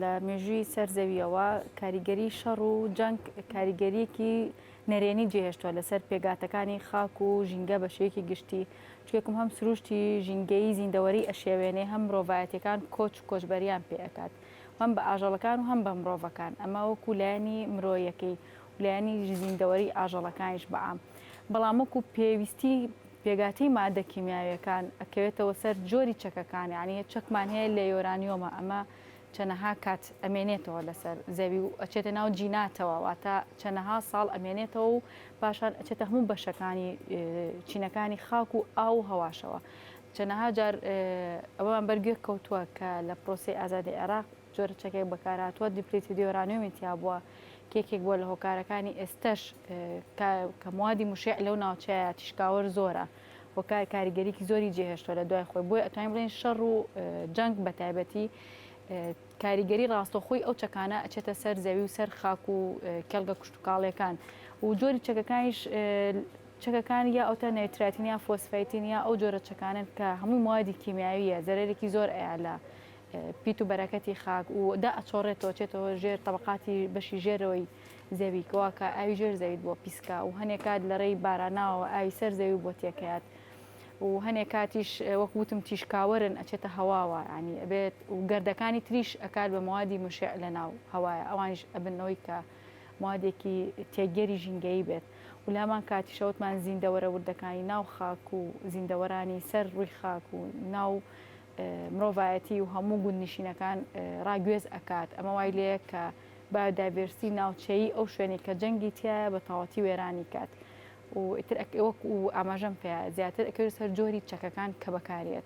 لە مێژووی سەر زەوییەوە کاریگەری شەڕ و جەنگ کاریگەریەکی نەرێنی جێهێشتوە لەسەر پێگاتەکانی خاک و ژینگە بە شێوەیەکی گشتی چکێکم هەم سروشتی ژینگەیی زیندەوەری ئەشێوێنێ هەم مرۆڤایەتیەکان کۆچ و کۆچبەریان پێ ئەکات هەم بە ئاژەڵەکان و هەم بە مرۆڤەکان ئەمە وەکو لایەنی مرۆیەکەی و لایەنی زیندەوەری ئاژەڵەکانیش بە عام بەڵام وەکو پێویستی پێگاتیی ماددە کیمیاویەکان ئەکەوێتەوە سەر جۆری چەکەکان یانی چەکمان هەیە لە یۆرانیۆمە ئەمە چەنەها کات ئەمێنێتەوە لەسەر زەوی و ئەچێتە ناو جیناتەوە واتە چەنەها ساڵ ئەمێنێتەوە و پاشان ئەچێتە هەموو بەشەکانی چینەکانی خاک و ئاو و هەواشەوە چەنەها جار ئەوەمان بەرگوێ کەوتووە کە لە پرۆسەی ئازادی عێراق جۆرە چەکێک بەکارهاتووە دیپلیتیدی یۆرانیۆمی تیابووە کە یەکێک بووە لە هۆکارەکانی ئێستەش کە موادی مشێع لەو ناوچەیە تیشکاوەر زۆرە وەکار کاریگەریکی زۆری جێهێشتوە لە دوای خۆی بۆی ئەتوانین بڵێن شەڕ و جەنگ بە تایبەتی کاریگەری ڕاستەخۆی ئەو چەکانە ئەچێتە سەر زەوی و سەر خاک و کێڵگە کوشتتوکاڵەکان و جۆری چەکەکانیش چەکەکان یا ئەوتە نەیتراتین یا فۆسفیتین یا ئەو جۆرە چەکانن کە هەمووی موادی کیمیاویە زەرێکی زۆر ئەیالە پیت و بەرەکەتی خاک و دا ئەچۆڕێتەوە چێتەوە ژێر تەبەقاتی بەشی ژێرەوەی زەوی کەوا کە ئاوی ژێر زەویت بۆ پیسکا و هەنێ کات لە ڕێی باراناوەوە ئاوی سەر زەوی بۆ تێکەیات و هەنێ کاتیش وەک وتم تیشکاوەرن ئەچێتە هەواوە ینی ئەبێت و گردەکانی تریش ئەکات بە موادی مشع لە ناو هەوایە ئەوانش ئەبنەوەی کە موادێکی تێگەری ژینگەیی بێت و لامان کاتیشەوتمان زیندەوەرە وردەکانی ناو خاک و زیندەوەرانی سەر ڕووی خاک و ناو مرۆڤایەتی و هەموو گوندنشینەکان ڕاگوێز ئەکات، ئەمە وای لێیە کە بایۆدایڤێرسیتی ناوچەیی ئەو شوێنەی کە جەنگی تیایە بە تەواوەتی وێرانی کات و ئیتر وەک و ئاماژەم پێ زیاتر ئەکەوێت سەر جۆری چەکەکان کە بەکاریێت.